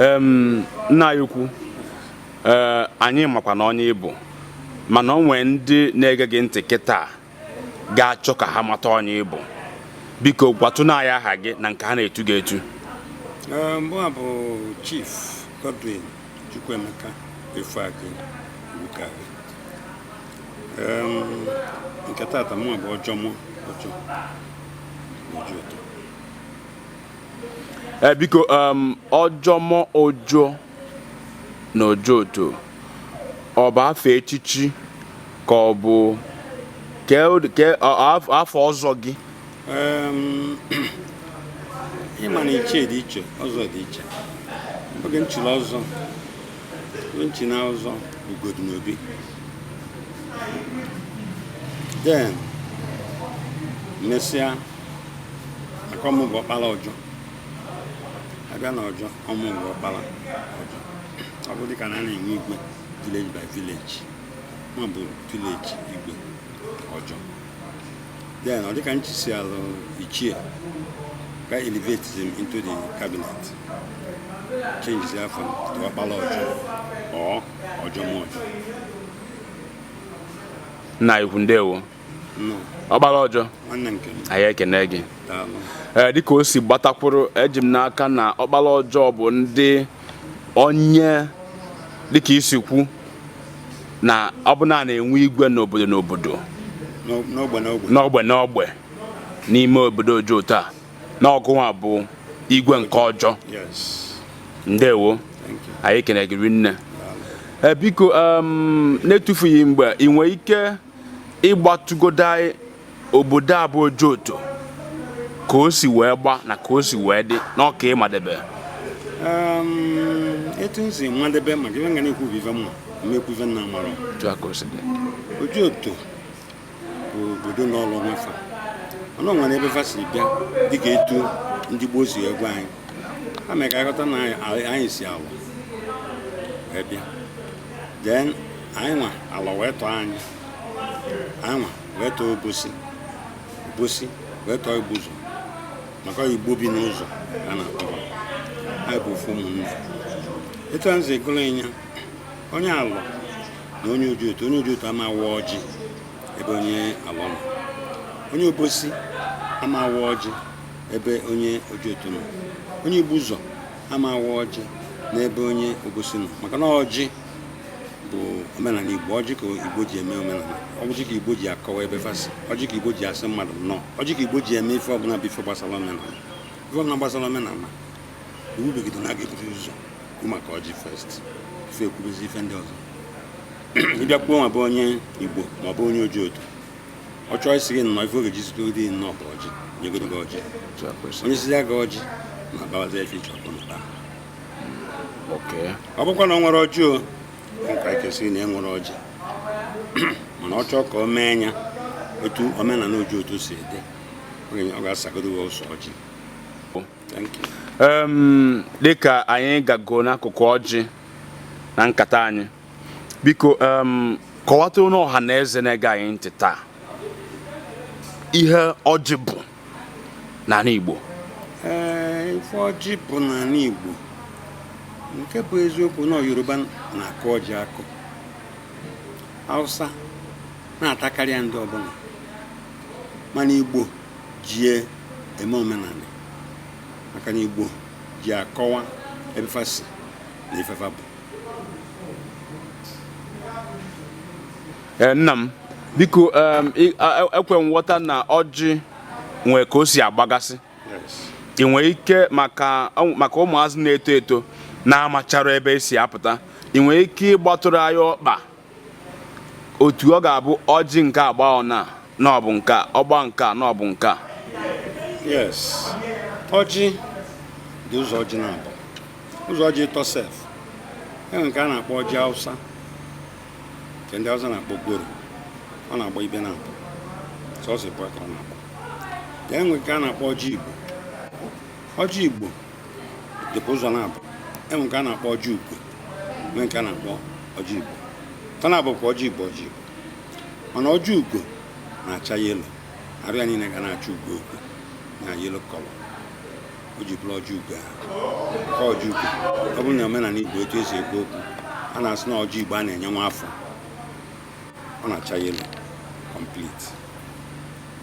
nna anyị ukwu ee anyị makwa na onye ị bụ mana o nwee ndị na-ege gị ntị kịta ga-achọ ka ha mata onye ị bụ biko gwatụnụ anyị aha gị na nke ha na-etu gị etu mụwa bụ chief Godwin Chukwuemeka Ifeagụ Ukahi nke title mụ bụ Ọjọmọ Ọjọ ee eh, biko um, ọjọmọ Ọjọ na Ojoto ọ bụ afa echichi ka ọ bụ ke afa ọzọ gị ị ma na ichie dị iche ọzọ dị iche oge m chiri ọzọ m chi na ọzọ bụ ugo dị n'obi then mesịa aka ọ mụ bụ ọkpala Ọjọ a bịa na Ọjọ ọ mụ bụ ọkpala ọjọ ọ bụ dịka na a na-enwe igwe village by village mụ bụ village igwe ọjọ then ọ dịka m chisịalụ ichie ka e elevate m into the cabinet change afa m to ọkpala ọjọ or Ọjọmọ Ọjọ nna anyị ukwu ndewo ọkpala Ọjọ anyị ekene gị ee dịka o si gbata kwụrụ eji m n'aka na ọkpala Ọjọ bụ ndị onye dịka i si kwuo na ọ bụrụ na a na-enwe igwe n'obodo n'obodo n'ogbe n'ogbe n'ime obodo Ojoto a na ọ gịnwa bụ igwe nke Ọjọ ndewo anyị ekene gị rinne biko um, na-etufughị mgbe i nwee ike ịgwatụgodu anyị obodo a bụ Ojoto ka o si wee gba na ka o si wee dị na ọ ka ị madebe etu m si madebe maka ife m ga na-ekwu bụ ife m ma m ma ekwu ife m na-amarọ Ojoto bụ obodo nọlụ onwe fa ọnụ nwere ebe fa si bịa dịka etu ndị gboo si gwa anyị ha mere ka anyị ghọta na anyị si awa wee bịa then anyị nwa Alọ wee tọọ anyị anyị nwa wee tọọ obosi obosi wee tọọ igbuzo maka igbo bi n'ụzọ ka a na-akpọ fa anyị bụ ofu ụmụnne etu anyị si gụrụ ịnya onye alọ na onye Ojoto onye Ojoto ama awa ọjị ebe onye alọ nọ onye obosi ama awa ọjị ebe onye Ojoto nọ onye Igbuzo a ma awa ọjị n'ebe onye obosi nọ maka na ọjị bụ omenala igbo ọjị ka igbo ji eme omenala ọjị ka igbo ji akọwa ebe fa si ọjị ka igbo ji asị mmadụ nnọọ ọjị ka igbo ji eme ife ọbụla bụ ife gbasara omenala ife ọbụla gbasara omenala iwu begide na a ga-ebute ụzọ kwu maka ọjị first ife e kwubezi ife ndị ọzọ ị bịakwuo ma bụ onye igbo ma ọ bụ onye ojoto ọ chọọ ịsị gị nnọọ ife ọ ga-eji zute gị nnọọ bụ ọjị nyegodo gị ọjị o nyesịzịa gị ọjị na akpawazi ife ị chọ ọkụ na taa ọ bụkwa na o nwerọ ọjị o nwekwa ike sị na e nwerọ ọjị mana ọ chọọ ka o mee ya otu omenala ojoto si dị ọ ga-asagodo gị ụsa ọjị dịka anyị gago n'akụkụ ọjị na nkata anyị biko um, kọwatalụ ọha na eze na-ege anyị ntị taa ihe ọjị bụ n'ala Igbo ee ife ọjị bụ n'ala Igbo nke bụ eziokwu na Yoruba na-akụ ọjị akụ Hausa na-atakarị ya ndị ọbụla mana Igbo jie eme omenala maka na Igbo ji akọwa ebe fa si na ife fa bụ Eh, nna m biko ekwe m nghọta na ọjị nwee ka o si agbagasị ị nwee ike maka ụmụazị na-eto eto na-amachara ebe e si apụta ị nwee ike ịgbatụrụ anyị ọkpa otu ọ ga-abụ ọjị nke a gbaa ọna na ọ bụ nke a ọ gbaa nke a na ọ bụ nke a yes ọjị dị ụzọ ọjị naabọ ụzọ ọjị ịtọ sef e nwee nke a na-akpọ ọjị hausa nke ndị hausa na-akpọ goro ọ na-agba ibe naabọ sọsọ ịbụọ ka ọ na-agba e nwee nke a na-akpọ ọjị igbo ọjị igbo dịkwa ụzọ naabọ e nwee nke a na-akpọ ọjị ugo nwee nke a na-akpọ ọjị igbo fa na-abụkwa ọjị igbo ọjị igbo mana ọjị ugo na-acha yelo arụ ya niile ga na-acha ugo ugo na yelo kọlọ o ji bụrụ ọjị ugo ahụ ka ọjị ugo ọ bụrụ na omenala igbo otu e si ekwu okwu a na-asị na ọjị igbo a na-enye nwa afọ ọ na-acha yelo complete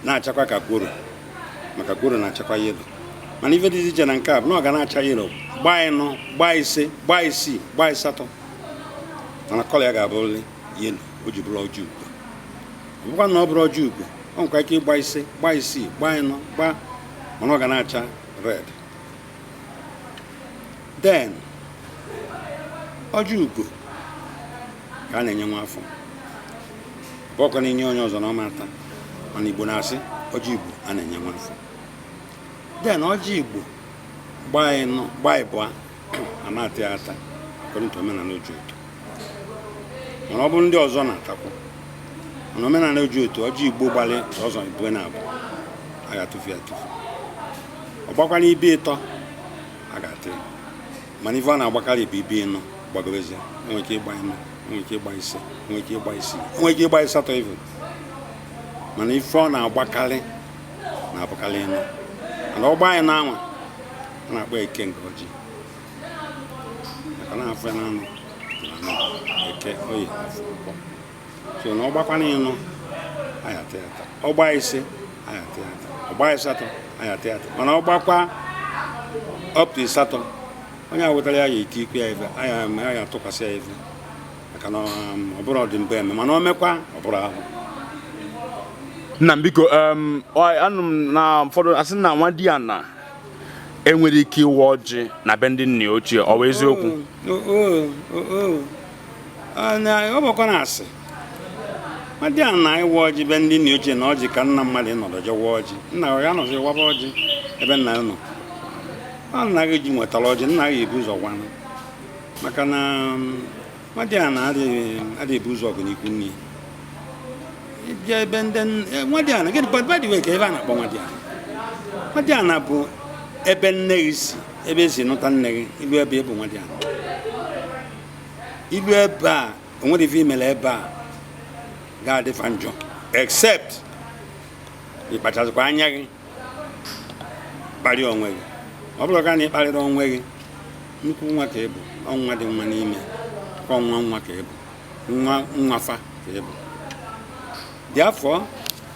na-achakwa ka goro maka goro na-achakwa yelo mana ife dị iche na nke a bụ na ọ ga na-acha yelo gbaa ịnọ gbaa ise gbaa isii gbaa ịsatọ mana kọlọ ya ga-abụrịrị yelo o ji bụrụ ọjị ugo ọ bụkwa na ọ bụrọ ọjị ugo o nwekwa ike ịgba ise gbaa isii gbaa ịnọ gbaa mana ọ ga na-acha red then ọjị ugo ka a na-enye nwa afọ bụọkwa na inye onye ọzọ na ọ ma ata mana igbo na-asị ọjị igbo a na-enye nwa afọ then ọjị igbo gbaa ịnọ gbaa ịbụa a ma-ata ya ata according to omenala ojoto mana ọ bụrụ ndị ọzọ na-atakwa mana omenala ojoto ọjị igbo gbalị ụzọ ibe naabọ a ga-atụfu ya atụfu ọ gbakwanụ ibe ịtọ a ga-ata ya mana ife ọ na-agbakarị bụ ibe ịnọ gbagobezie nwere ike ịgba ịnọ nwere ike ịgba ise nwere ike ịgba isii nwere ike ịgba ịsatọ ife mana ife ọ na-agbakarị na-abụkarị ịnọ mana ọ gbaa ịnọ anwa a na-akpọ eke nke ọjị maka na afịa naanọ eke oye afọ nkwọ so na ọ gbakwanụ ịnọ a ya-ata ya ata ọ gbaa ise a ya-ata ya ata ọ gbaa ịsatọ a ya-ata ya ata mana ọ gbakwa up to ịsatọ onye a wetara ya ya eti ikpe ya ife a ya-atụkwasị ya ife maka na um, ọ bụrọ ọ dị mbe eme mana o mekwa ọ bụrụ ahụ nna m biko um, anụ m na ụfọdụ asị na nwadiana enwerọ ike ịwa ọjị na be ndị nna ochie ọ bụ eziokwu oh, oh, oh, ọ bụkwa na a sị nwadiana ịwa ọjị be ndị nna ochie na ọ dị ka nna mmadụ nọdụ je wa ọjị nwa ya nọzi waba ọjị ebe nna ya nọ ọ nna gị i wetara ọjị nna gị ebu ụzọ waanụ maka na nwadiana adị ebu ụzọ ọgụ n'ikwu nne ị bịa ebe ndị nwadiana gịnị kwa dị ka ebe a na-akpọ nwadiana nwadiana bụ ebe nne gị si ebe e si nụta nne gị i lu ebe ị bụ nwadiana i lu ebe a o nwerọ ife i mere ebe a ga-adị fa njọ except ị kpachazikwa anya gị kparị onwe gị ọ bụrụ ka na ị kparịrọ onwe gị nnukwu nwa ka ị bụ ọ nwa dị nwa n'ime ka ọ nwa nwa ka ị bụ nwa nwa fa ka ị bụ therefore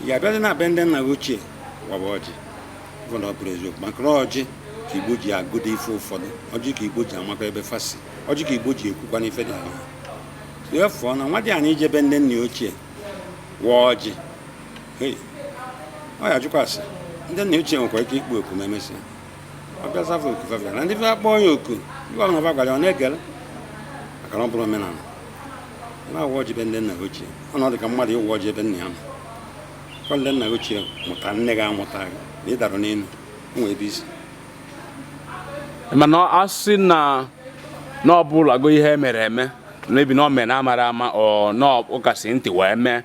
ya abịazi na be ndị nna gị ochie waba ọjị ụfọdụ ọ bụrụ eziokwu maka na ọjị ka igbo ji agọdo ife ụfọdụ ọjị ka igbo ji amaba ebe fa si ọjị ka igbo ji ekwukwa n'ife dị anya therefore na nwadiana ije be ndị nna ochie waa ọjị ọ ya jụkwasị ndị nna ochie nwekwa ike ịkpọ oku ma emesịa ọ bịa za fa oku fafia na ndị fa akpọ ya oku ife ọbụla fa gwara ya ọ na-egere maka na ọ bụrọ omenala na-awa ọjị be ndị nna ochie ọ na ọ dị ka mmadụ ịwa ọjị ebe nna ya nọ Kwa ndị nna ochie mụta nne gị amụta gị na ị dara n'elu enwe ebe i si mana a sị na na ọ bụlago ihe e mere eme n'ebi na omena amara ama ọ na ụkasị ntị wee mee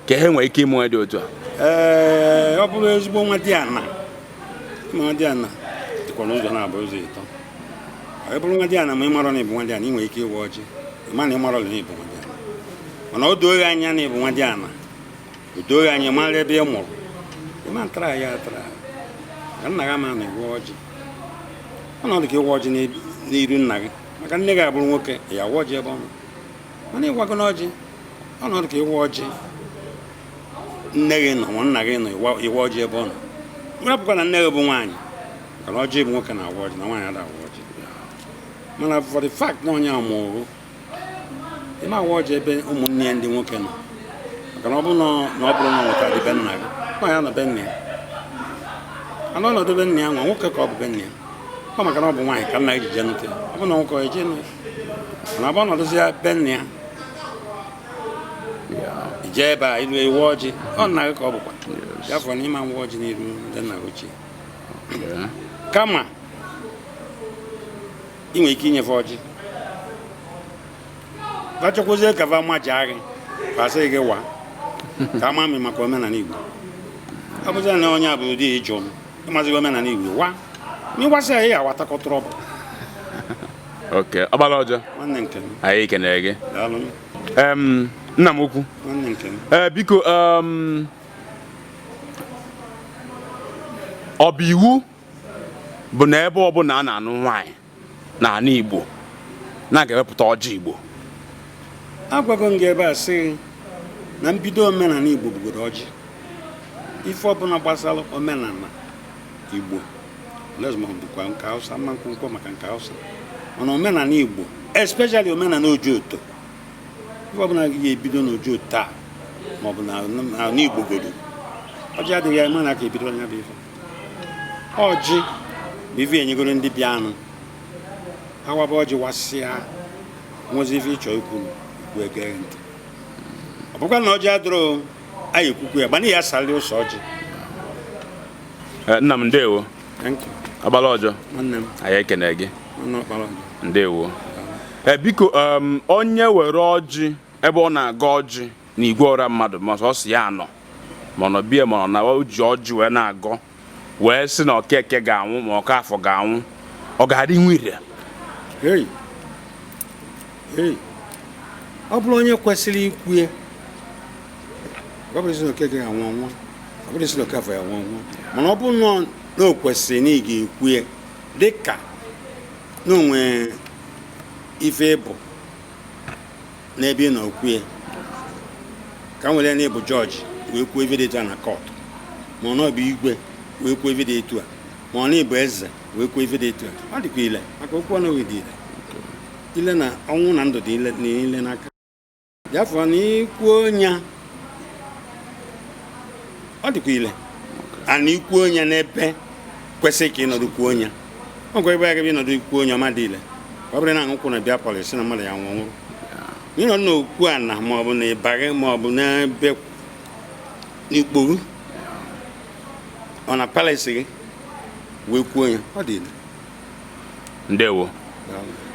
ka ihe nwee ike ime dị otu a ee ọ bụrụ ezigbo nwadiana nwadiana dịkwa n'ụzọ naabọ ụzọ ịtọ ọ bụrụ nwadiana ma ị marọ na ị bụ nwadiana ị nwere ike ịwa ọjị ma na ị marọ na ị bụ nwadiana mana o doo gị anya na ị bụ nwadiana o doo gị anya mara ebe a mụrụ ịma ntara ya atara ka nna gị ma na ịwa ọjị ọ na-adị ka ịwa ọjị n'iru nna gị maka nne gị abụrụ nwoke ya wa ọjị ebe ọ nọ mana ị wago na ọjị ọ na-adị ka ịwa ọjị nne gị nọ ma nna gị nọ ịwa ọjị ebe ọ nọ rapụkwa na nne gị bụ nwaanyị kana ọjị bụ nwoke na-awa ọjị na nwaanyị ada awa ọjị mana for the fact na onye a mụrụ ị ma awa ọjị ebe ụmụnne ya ndị nwoke nọ maka na ọ bụrụ na ọ bụrụ na ọ nụtara di be nna gị nwa ya nọ be nna ya anụ ọ nọdụ be nna ya nwa nwoke ka ọ bụ be nna ya ọ maka na ọ bụ nwaanyị ka nna gị ji jee nụta ya ọ bụ na nwoke eje nụ ya mana ọ bụ ọ nọdụzi ya be nna ya jee ebe a ilu ịwa ọjị ọ nna gị ka ọ bụkwa ya fọrọ na ị ma awa ọjị n'iru ndị nna gị ochie kama ị nwere ike inyefe ọjị va chọkwazie ka va maji agị va sị gị wa ka ama mi maka omenala Igbo ọ bụzi na onye abụrụ dị ịjụ m ị mazighị omenala Igbo wa n'ịgbasa ya ya awatakọ trouble oke agbala ọjọ nwanne nke m anyị kenere gị daalụ Em, nna m ukwu nwanne nke m ee biko em, ọ bụ iwu bụ na ebe ọbụla a na-anụ nwaanyị n'ala Igbo na a ga-ewepụta ọjị Igbo agwago m gị ebe a sị na mbido omenala Igbo bụgodu ọjị ife ọbụla gbasara omenala Igbo less ma ọ bụkwa nke Hausa mma nkwụnkwọ maka nke Hausa mana omenala Igbo especially omenala Ojoto ife ọbụla gị ga-ebido n'Ojoto a maọbụ na ala Igbo godu ọjị adịghị ya mana ka ebido nya bụ ife ọjị bụ ife e nyegoro ndị bịanụ a waba ọjị wasịa nwezi ife ị chọ ikwu i kwue e gee ntị ọ bụkwa na ọjị adịrọ anyị ekwukwu ya gbana ya sali ụsọ ọjị eh, nna m ndewo agbala ọjọ anyị ekene gị ndewo eh, biko um, onye were ọjị ebe ọ na-aga ọjị na igwe ọra mmadụ ma ọ sọ ya nọ ma ọ nọ be ya ma ọ na o ji ọjị wee na-agọ wee sị na okeke ga-anwụ ma okafọ ga-anwụ ọ ga-adị ire Hey. Hey. ọ bụrụ onye kwesịrị ikwu ya ọ bụrụ ị sị na okeke ya-anwụ ọ nwụọ ọ bụrụ ị sị na okafọ ya-anwụ ọ nwụọ mana ọ bụrụ na ọ- na o kwesịrị na ị ga-ekwu ya dị ka na o nwe ife ị bụ n'ebe ị nọ kwue ka m were na ị bụ judge wee kwuo ife dị etu a na court ma ọ bụ igwe wee kwuo ife dị etu a ma ọ na ị bụ eze wee kwuo ife dị etu a ọ dịkwa ile maka okwu ọnụ dị ile ile na ọnwụ na ndụ dị ile na ile n'aka therefore na ị kwuo nya ọ dịkwa ile and ị kwuo nya n'ebe kwesịrị ka ị nọdụ kwuo nya o nwe ebe ọ ga-abụ ị nọdụ ị kwuo nya ọ ma adị ile ọ bụrọ na a nọ kwuo na beer parlour sị na mmadụ ya-anwụ ọ nwụrụ ị nọdụ n'okwu ana ma ọ bụ na iba gị ma ọ bụ n'ebe n'ikporu ọ na palace gị wee kwuo ya ọ dị ile ndewo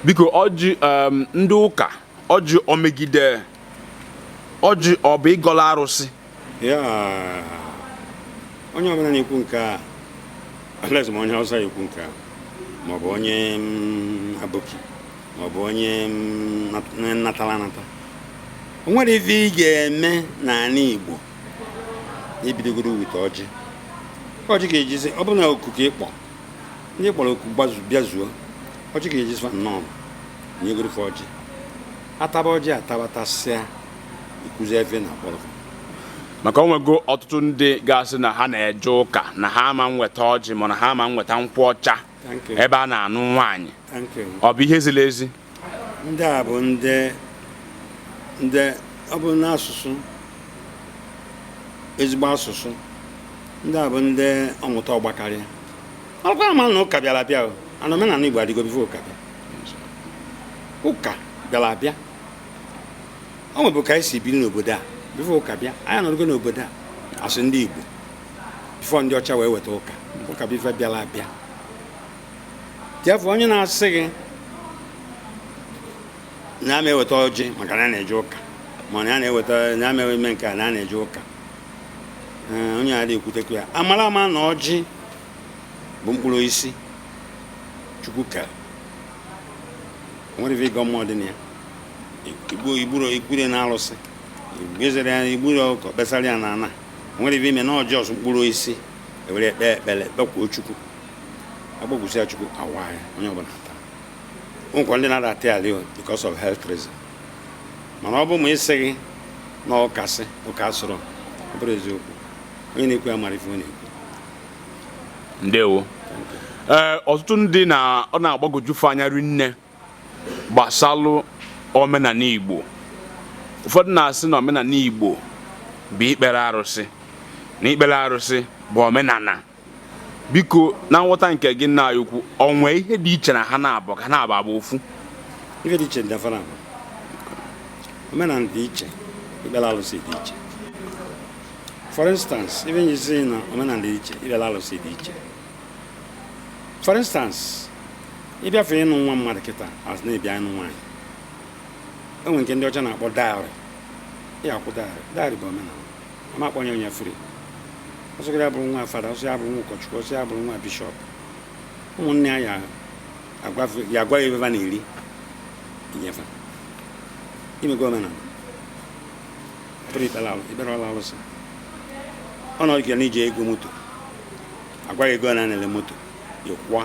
biko ọjị um, ndị ụka ọjị o megide ọjị ọ bụ ịgọlụ arụsị ya onye ọbụla na-ekwu nke a unless ma onye hausa ekwu nke a maọbụ onye mm, aboki maọbụ onye mm, nat- onye nnatara anata o nwere ife ị ga-eme n'ala igbo i bidogoro wete ọjị ọjị ka e ji asị ọ bụrụ na oku ka ị kpọ ndị ị kpọrọ oku gbazu bịazuo ọjị ka e ji asị fa nnọọ nyegodo fa ọjị ataba ọjị atabatasịa i kwuzie ife na a kpọrọ maka o nwego ọtụtụ ndị ga-asị na ha na-eje ụka na ha ama nweta ọjị mana ha ama nweta nkwụ ọcha ebe a na-anụ nwaanyị ọ bụ ihe ziri ezi ndị a bụ ndị ndị ọ bụ n'asụsụ ezigbo asụsụ ndị a bụ ndị ọmụta ọgbakarịa ọ kwa a ma na ụka bịara abịa o and omenala Igbo adịgo before ụka bịa ụka bịara abịa o nwebụ ka anyị si biri n'obodo a before ụka bịa anyị anọrọgo n'obodo a as ndị Igbo before ndị ọcha wee weta ụka ụka bụ ife bịara abịa therefore onye na-asị gị na ama eweta ọjị maka na a na-eje ụka mana ya na-eweta na ama eme nke a na a na-eje ụka onye a na-ekwutekwa ya amara ama na ọjị bụ mkpụrụ osisi chukwu kere nwere ife ịgọ mmụọ dị na ya igbu igburu ikwure na alụsị igbezere ya igburu ọkụkọ kpesara ya na ana o nwere ife ime na ọ just mkpụrụ osisi ewere ekpe ekpere kpekuo chukwu akpọkusi ya chukwu awa ya onye ọbụla ata o nwekwa ndị na-ada ata ya leo because of health reason mana ọ bụ ma ịsị gị na ụka sị ụka asịrọ ọ bụrọ eziokwu onye na-ekwu ya marọ ife ọ na-ekwu ndewo ee ọtụtụ ndị na ọ na-agbagoju fa anya rinne gbasalụ omenala Igbo ụfọdụ na-asị na omenala Igbo bụ ikpere arụsị na ikpere arụsị bụ omenala biko na nghọta nke gị nna anyị ukwu o nwe ihe dị iche na ha naabọ ka ha naabọ a bụ ofu ihe dị iche dị na fa naabọ omenala dị iche ikpere arụsị dị iche For instance, ife m ji sị na omenala dị iche, ikpere alụsị dị iche. For instance, ịbịafe ịnụ nwa mmadụ kịta a sị na ị bịa ịnụ nwaanyị. O nwere nke ndị ọcha na-akpọ dowry. Ị ya-akwụ dowry. Dowry bụ omenala. A ma akpọnye onye free. Ọ sọ ya bụrụ nwa fada, ọ sọ ya bụrụ nwa ụkọchukwu, ọ sọ ya bụrụ nwa bishọp. Ụmụnna ya ya agwa ya ife fa na-eri. I nye fa. I mego omenala. bụrọ ikpere ala- ikpere alụsị ọ nọrọ ike na i je ego moto agwa gị ego a na-ele moto ị kwụọ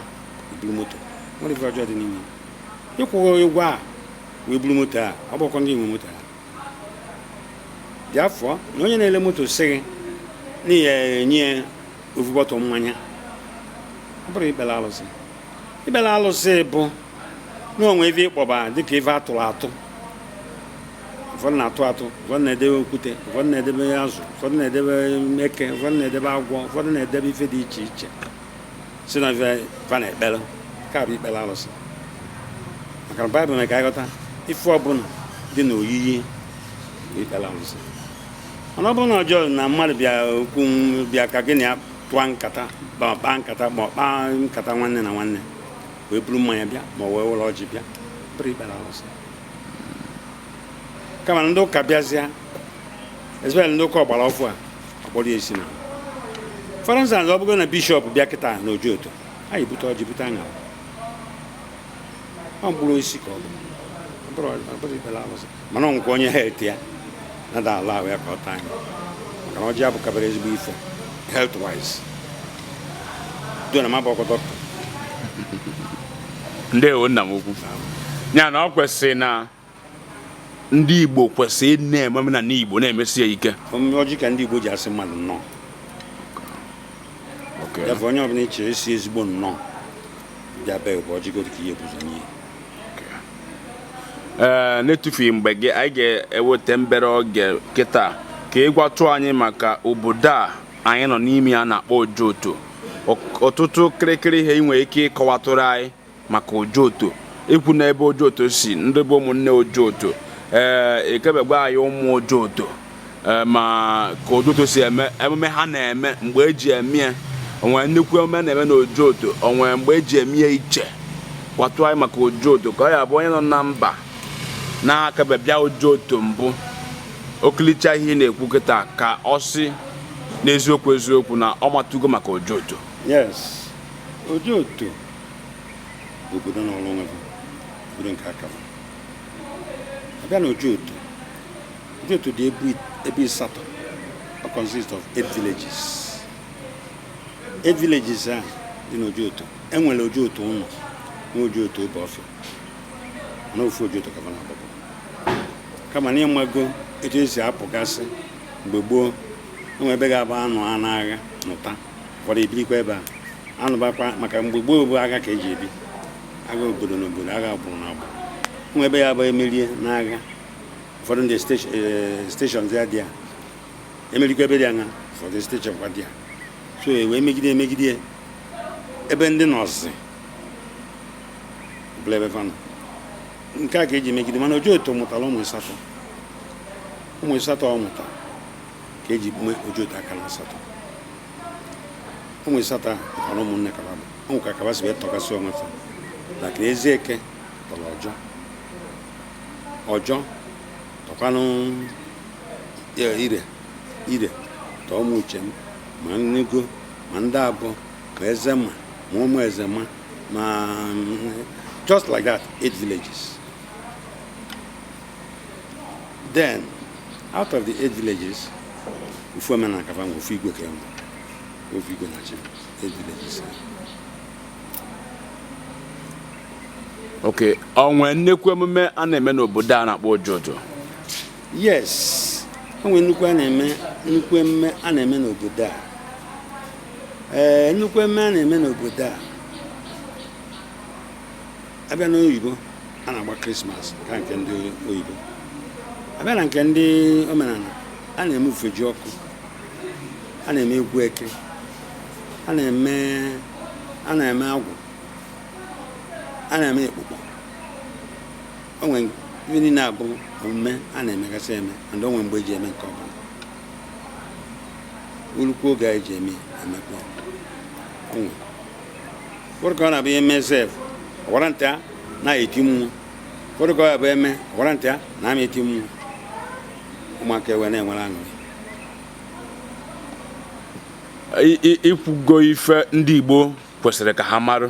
i buru moto o nwere ife ọjọọ dị n'ime ya. ịkwụghị ụgwọ a wee buru moto a ọ bụkwa ndị nwe moto a dị afọ na onye na-ele moto sị gị na ị ya-enye ya ofu bọtụ mmanya ọ bụrọ ikpere alụsị ikpere alụsị bụ na o nwe ebe ịkpọba dịka ife atụrụ atụ ụfọdụ na-atụ atụ ụfọdụ na-edebe okwute ụfọdụ na-edebe azụ ụfọdụ na-edebe eke ụfọdụ na-edebe agwọ ụfọdụ na-edebe ife dị iche iche si na fa na-ekpere ka bụ ikpere alụsị maka na baịbụl mere ka anyị ghọta ife ọbụla dị na oyiyi bụ ikpere alụsị mana ọ bụrụ na ọjọọ na mmadụ bịa ka gị na ya tụọ nkata ma ọ kpaa nkata nwanne na nwanne wee buru mmanya bịa ma ọ wee were ọjị bịa bụrọ ikpere alụsị kama ndị ụka bịazịa ezibere ndị ụka ọgbara ọfụ a akpọrọ ya asị na for instance ọ bụgo na bishọp bịa kịta na Ojoto anyị bute ọjị bute aṅara ọ mkpụrụ osisi ka ọ bụ mana o nwekwa onye health ya na-ada allow ya ka ọ taa ya maka na ọjị abụkabarọ ezigbo ife health wise though na m abụkọ dọkịta ndewo nna m ukwu ya na ọ kwesịrị na ndị igbo kwesịrị na-eme omenala igbo na-emesi ya ike ọjị ka ndị igbo ji asị mmadụ nnọọ ya bụ onye ọbụla i che ịsị ezigbo nnọọ bịa be ọ bụ ọjị godu ka ị ya-ebu ụzọ nye ee eh, na-etufughị mgbe gị anyị ga-eweta mbere oge kịta ka ị gwatụ anyị maka obodo a anyị nọ n'ime ya na-akpọ Ojoto ọtụtụ kịrịkịrị ihe ị nwere ike ịkọwatụrụ anyị maka Ojoto ikwu na ebe Ojoto si ndị bụ ụmụnne Ojoto ee eh, ekebegwa anyị ụmụ Ojoto e, ma ka ojoto si eme emume ha na-eme mgbe eji eme ya onwere nnukwu emume na-eme na ojoto onwere mgbe eji eme ya iche gwatụ anyị maka ojoto ka ọ ya-abụ onye nọ na mba na-akabe bịa ojoto mbụ o kilicha ihe ị na-ekwu kịta ka ọ sị n'eziokwu eziokwu na ọ matụgo maka ojoto yes ojoto bụ obodo nọọrụ onwe obodo nke aka abịa na ojoto Ojoto dị ebe ịsatọ ọ consist of eight villages eight villages ahụ dị n'Ojoto enwere Ojoto Ụnọ na Ojoto Obiọfịa na ofu Ojoto ka fa naabọ bụ kama na ịmago etu esi apụgasị mgbe gboo enwe ebe ga-abụ anụa n'agha nụta ụfọdụ ebirikwa ebe a anụbakwa maka mgbe gboo bụ agha ka eji ebi agha obodo na obodo agha agbụrụ na agbụrụ enwe ebe ga-abụ emerie n'agha ụfọdụ ndị station eh, ya there emerikwa ebe dị anya ụfọdụ station kwa there so e wee megide emegide ya ebe ndị nọzi bụlụ ebe fa nọ nke a ka eji megide mana Ojoto mụtara ụmụ ịsatọ ụmụ ịsatọ ọ mụta ka eji mee Ojoto Akanasatọ ụmụ ịsatọ a mụtara ụmụnne ka fa bụ ụmụ ka ka fa si wee tọgasị onwe fa maka Ezieke tọrọ Ọjọ Ọjọ tọkwanụ Ire Ire tọọ Ụmụchem ma Enugo ma Ndịabọ ma Ezema ma Ụmụezema ma mm, just like that eight villages then out of the eight villages ofu omenala ka fa nwe ofu igwe ka enwe ofu igwe na-achị eight villages okay onwe nnekwu emume a na-eme n'obodo a na-akpọ Ojoto yes onwe nnukwu a na-eme nnukwu emume a na-eme n'obodo a ee nnukwu emume a na-eme n'obodo a abịa n'oyibo a na-agba Christmas ka nke ndị oyibo abịa na nke ndị omenala a na-eme Ufejiọkụ a na-eme egwu eke a na-eme a na-eme agwụ a na-eme ekpukpọ o nwere ihe niile bụ omume a na-emegasị eme and o nwere mgbe eji eme nke ọ bụla urukwu oge eji eme emekwa o nwe ụfọdụ ka ọ na-abụ eme sef ọwara nta a na-eti mmụọ ụfọdụ ka ọ na-abụ eme ọwara nta a na-ama eti mmụọ ụmụaka ewee na-enwere aṅụrị i kwugo ife ndị Igbo kwesịrị ka ha marụ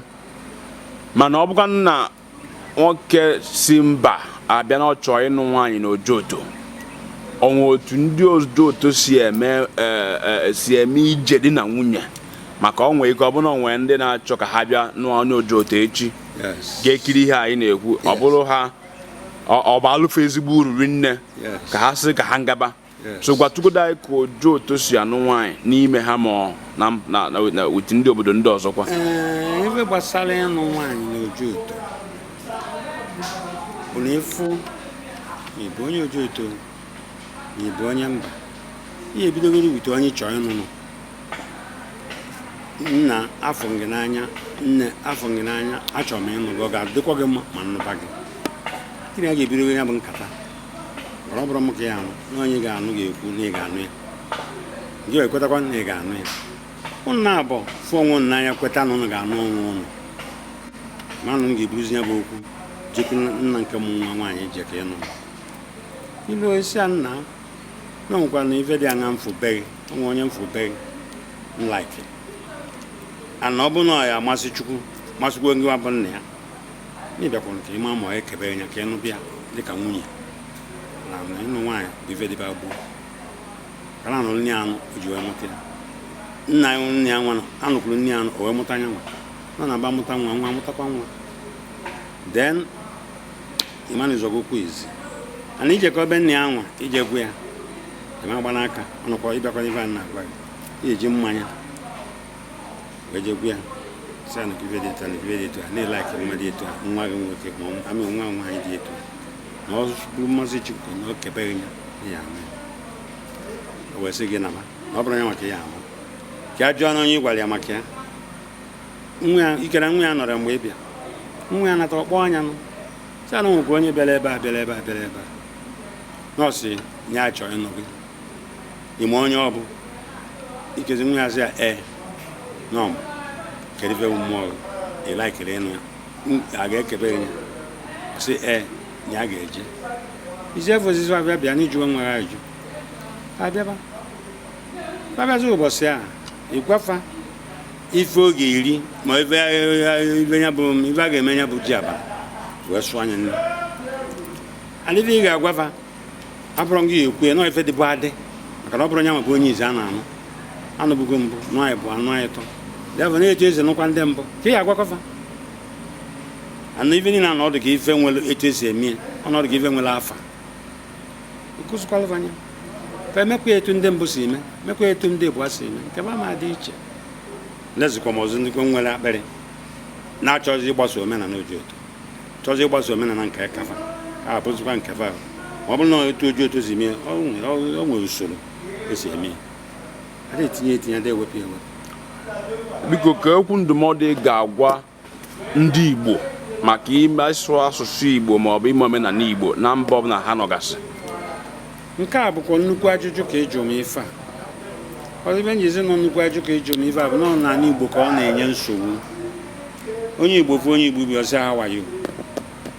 mana ọ bụkwa na nwoke si mba abịa na ọ chọ ịnụ nwaanyị na ojoto o nwe otu ndị ojoto si eme e, e, si eme ije di na nwunye maka o nwe ike ọ bụrụ na o nwee ndị na-achọ ka ha bịa nụọ onye ojoto echi ga-ekiri ihe anyị na-ekwu ọ bụrụ ha ọ ga-abalụ fa ezigbo uru rinne ka ha sị ka ha ngaba so gwatụgodo anyị ka ojoto si anụ nwaanyị n'ime ha ma na with ndị obodo ndị ọzọkwa eh, ebe gbasara ịnụ nwaanyị na ojoto bụ na ịfụ ị bụ onye ojoto na ị bụ onye mba ị ya-ebidogodo with onye ị chọọ ịnụ anụ nna afụ m gị n'anya nne afụ m gị n'anya achọrọ m ịnụ gị ọ ga-adịkwa gị mma ma m nụba gị gị na ya ga-ebido ya bụ nkata ọ bụrụ m ka ya anụ na onye ga-anụ ga-ekwu na ị ga-anụ ya gị ekwetakwa na ị ga-anụ ya ụnụ naabọ fụ onwe ụnụ n'anya kweta na ụnụ ga-anụ onwe ụnụ mana m ga-eburuzi ya bụ okwu jekwu nna nke mụ nwa nwaanyị ị je ka ị nụ i luo ị sị ya nna na o nwekwa na ife dị anya m fụ be gị o nwe onye m fụ be gị m like ya na ọ bụ na ọ ya-amasị chukwu masịkwa gị nwa bụ nna ya na ị bịakwara ka ị ma ma e kebe ya ka ị nụba ya dịka nwunye na na ịnụ nwaanyị bụ ife dịba gboo ka na anụrụ nne ya anụ o ji wee mụta ya nna ya nne ya nwa anụkwuru nne ya anụ o wee mụta ya nwa na na-aba mụta nwa nwa mụtakwa nwa then ị ma na ị zọgo ụkwụ izizi and ị jekọ ebe nne ya nwa ị jekwu ya ị ma-agba aka ọnụkwa ịbịakwa ife a na-agwa gị i ji mmanya wee jekwu ya sị ya na ife dị etu a na ife dị etu a na ị like nwa dị etu a nwa gị nwoke ma ọ- I mean nwa nwaanyị dị etu a na ọ bụrụ mmasị chukwu na o kebe gị ya na ya ama ya. o wee sị gị na ma na ọ bụrụ ya maka ya ama ka a jụọ na onye ị gwara ya maka ya nwa ya ikekwe nwa ya anọrọ mgbe ị bịa nwa ya nata ọ kpọọ ya nụ sị ya na o nwekwa onye bịara ebe a bịara ebe a bịara ebe a na ọ sị ya chọ ịnụ gị ịma onye ọ bụ ikezi nwa ya sị ya ee nọm kedu ife bụ mmụọ gị ị like-ịrị ịnụ ya M- a ga-ekebe ya Ọ sị ee na ya ga-eje isi efe ozizi a bịa bịa n'ịjụ nwa ya ajụ abịaba abịazi ụbọchị a ị gwa fa ife ọ ga-eri ma ife ife ya bụ ife a ga-eme ya bụ ji abalị wee sụọ anya nne adịghị ị ga-agwa fa abụrọ gị ekwu ya na ọ ife dịbu adị maka na ọ bụrụ nya maka onye izi a na-anụ anụbụgo mbụ nụ anyị bụ anụ anyị so therefore na-eji eze nụkwa ndị mbụ ka ị ga-agwakwa fa na ife niile na ọ dụ ka ife nwere etu e si eme ya ọnọdụ ka ife nwere afa nkụzikwalụ fa nya fa emekwa etu ndị mbụ si eme mekwa etu ndị Igbo si eme nke ma ma dị iche lezikwa m ọzọ ndị nwere akpịrị na-achọzi ịgbaso omenala Ojoto chọzi ịgbaso omenala nke aka fa a bụzikwa nke fa ma ọ bụrụ na etu Ojoto si mee o nwere usoro e si eme ya a da etinye etinye a da ewepụ ewepụ biko kee okwu ndụmọdụ ị ga-agwa ndị Igbo maka ime ịsụ asụsụ Igbo maọbụ ime omenala Igbo na mba ọbụla ha nọgasị nke a bụkwa nnukwu ajụjụ ka ị jụ m ife a ife m jizi na ọ nnukwu ajụ ka ị jụ m ife a bụ na n'ala igbo ka ọ na-enye nsogbu onye igbo fụ onye igbo ibe ọ sị how are you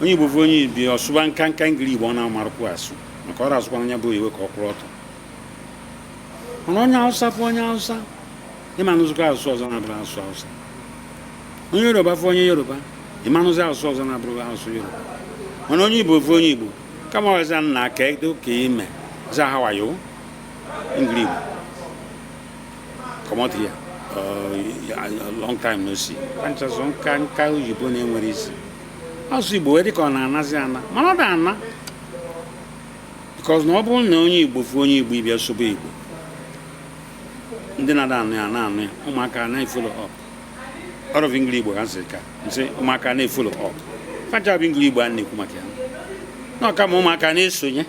onye igbo fụ onye igbo ọ sụba nka nka ngiri igbo ọ na-amarọkwu asụ maka ọrụ asụkwa nya bụ ife ka ọ kwụrụ ọtọ mana onye hausa fụ onye hausa ị ma nụzikwa asụsụ ọzọ na-abụrọ asụsụ hausa onye yoruba fụ onye yoruba ị ma nụzi asụsụ ọzọ na-abụrọ asụsụ yoruba mana onye igbo fụ onye igbo kama ọ za nna kedu ka ị me za how are you ngiri igbo comot here uh, long time no see fancha sụ nka nka oyibo na-enwerọ isi asụ igbo wee dịka ọ na-anazi ana mana ọ da ana because na ọ bụrụ na onye igbo fụ onye igbo ibe ya sụbe igbo ndị na-ada anụ ya na-anụ ya ụmụaka na-efollow up ọ bụrọ ngiri igbo ha siri ka m sị ụmụaka na-efollow up fancha bụ ngili igbo a na-ekwu maka ya na ọ ka mma ụmụaka na-esonye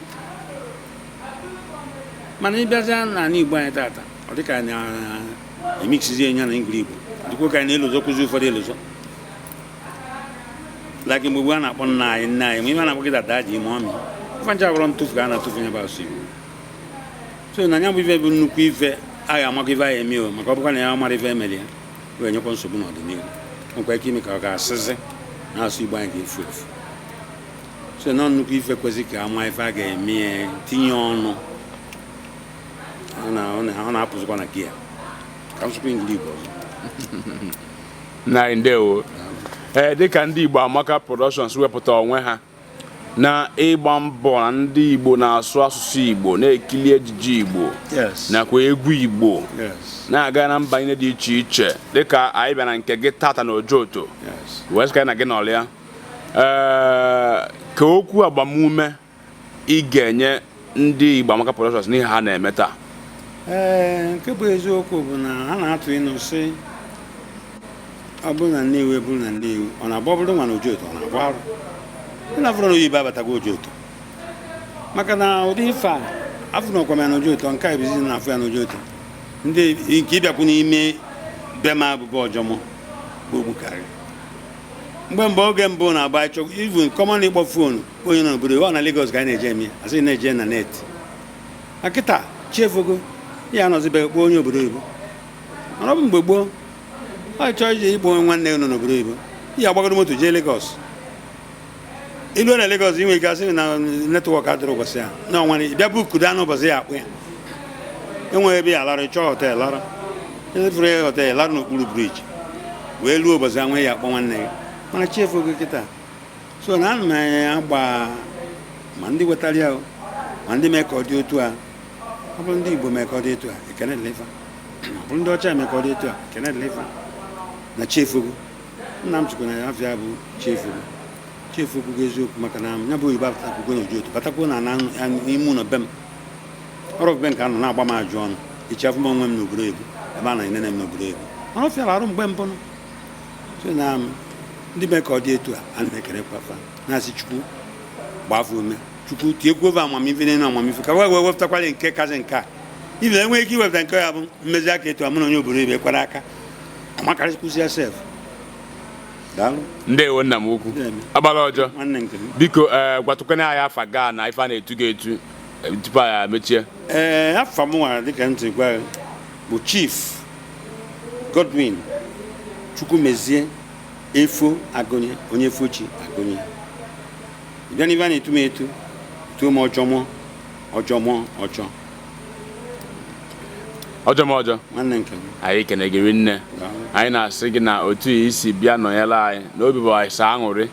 mana ị bịazịa n'ala igbo anyị tata ọ dịka anyị na-emixizi nya na ngili igbo dịkwa ka anyị na-elozokwuzi ụfọdụ elozo like mgbe gboo a na-akpọ nna anyị nna anyị ma ife a na-akpọ kịta daddy mummy fancha bụrụ ntụfu ka a na-atụfu ya bụ asụ igbo so na nya bụ ife bụ nnukwu ife a ga-amakwa ife anyị eme o maka ọ bụkwa na a marọ ife e mere ya ọ ga-enyekwa nsogbu n'ọdịnihu nwekwa ike ime ka ọ ga-asịzi na asụ Igbo anyị ga-efu efu so na nnukwu ife kwesị ka a ma ife a ga-eme ya tinye ọnụ ọ na-apụzikwa na gear ka m sụkwa ngili Igbo ọzọ nna anyị ndewo ee eh, dịka ndị Igbo Amaka Productions wepụta onwe ha na ịgba mbọ na ndị Igbo na-asụ asụsụ Igbo na-ekili ejije Igbo nakwa egwu Igbo na-aga na mba niile dị iche iche dịka anyị bịa na nke gị tata na Ojoto wee sị ka anyị na gị nọlịa ee ka okwu agbamume ị ga-enye ndị Igbo Amaka Productions n'ihe ha na-eme taa ee nke bụ eziokwu bụ na a na-atụ inu sị ọ bụrụ na Nnewi bụrụ na Nnewi ọ na-agba bụrụ nwa na Ojoto ọ na-agba arụ ị na-afụrọ na oyibo abatago Ojoto maka na ụdị ife a afụ na ọkwam ya na Ojoto nke a bụzi na afụ ya na Ojoto ndị nke ịbịakwu n'ime be m abụbụ ọjọmọ bụ ogbukarị mgbe gboo oge mbụ na-agba ị chọọ even common ịkpọ phone onye nọ n'obodo ọ na Lagos ka anyị na-eje eme a sị na-eje na NET na kịta chi efogo ya anọzi be gị kpọọ onye obodo oyibo mana ọ bụ mgbe gboo ị chọọ ije ịkpọ onye nwanne gị nọ n'obodo oyibo ya agbagoro moto jee Lagos i luo na Lagos e nwe ike a sị na network adịrọ ụbọchị ya na ọnwa bịa bụ kudo anụ ụbọchị ya akpụ ya enweghị ebe ya lara chọọ hotel lara ị fụrọ ya hotel lara n'okpuru bridge wee luo ụbọchị anwe ya akpọ nwanne gị mana chi efogo kịta so na ana m agba ma ndị wetara ya ma ndị mee ka ọ dị otu a ọ bụrụ ndị Igbo mee ka ọ dị etu a ekene dịrị fa ọ bụrụ ndị ọcha mee ka ọ dị etu a ekene dịrị fa na chi efogo nna m chụkwa na ya afịa bụ chi efogo chi efokwugo eziokwu maka na ya bụ oyibo apụtakwugo na Ojoto batakwuo na na ime ụlọ be m ọrụ be nke a nọ na-agba m ajụ ọnụ echi afụ m onwe m n'obodo oyibo ebe a na-enene m n'obodo oyibo mana ọ fịara arụ mgbe mbụ so na um, ndị mee ka ọ dị etu a ana m ekenekwa fa na-asị Chukwu gbaa fa ume Chukwu tiekwuo fa amamife n'elu amamife ka e wee wee wepụtakwara nke kasị nke a ibe enweghị ike iwepụta nke ya-abụ m mezie aka etu a mụ na onye obodo oyibo ekwara aka amakarịkwụsịa sef ndewo nna m ukwu agbara ọjọ biko eh, gwatụkwana anyị afa gị na ife a na-etu gị etu eh, tupu anyị mechie ee eh, afa m nwara dịka ntị gwa bụ Chief Godwin Chukwumezie Efoagui onye Efochi Agụnye bịa n'ife a na-etu m etu tuo m ọjọ mụọ ọjọ mụọ ọjọ ọjọ m ọjọ nwanne nke m anyị ekene gị rinne anyị na-asị gị na otu i si bịa nọnyere anyị na obi bụ anyị sọ aṅụrị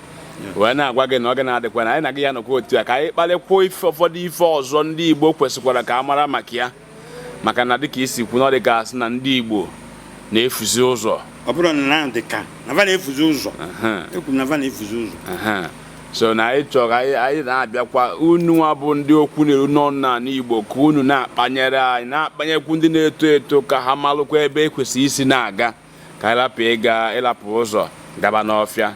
wee na-agwa gị na oge na-adịkwa na anyị na gị ya-anọkwa otu a ka anyị kpalịkwuo ife ụfọdụ ife ọzọ ndị Igbo kwesịkwara ka a mara maka ya maka na dịka i si kwu na ọ dị ka a sị na ndị Igbo na-efuzi ụzọ ọ bụrọ na na dị ka na va na-efuzi ụzọ ekwu na va na-efuzi ụzọ so na anyị chọrọ anyị na-abịakwa unu nwa bụ ndị okwu na-eru n'ọnụ n'ala Igbo ka unu na-akpanyere anyị na-akpanyekwu ndị na-eto eto ka ha malụkwa ebe e kwesịrị isi na-aga ka anyị rapụ ịga ịrapụ ụzọ gaba n'ọfịa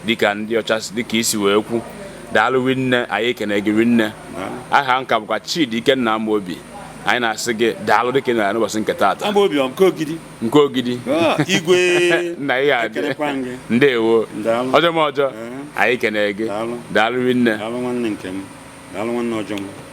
dịka ndị ọcha dịka i si wee kwu daalụ rinne anyị ekene gị rinne aha m ka bụkwa Chidi Ikenna Amobi anyị na-asị gị daalụ dịka ị nara n'ụbọsị nke taata nke Ogidi ah, igwe nna ị ga-adị ndewo ọjọọ m ọjọọ eh. anyị kene gị daalụ rinne daalụ nwanne nke m daalụ nwanne ọjọọ m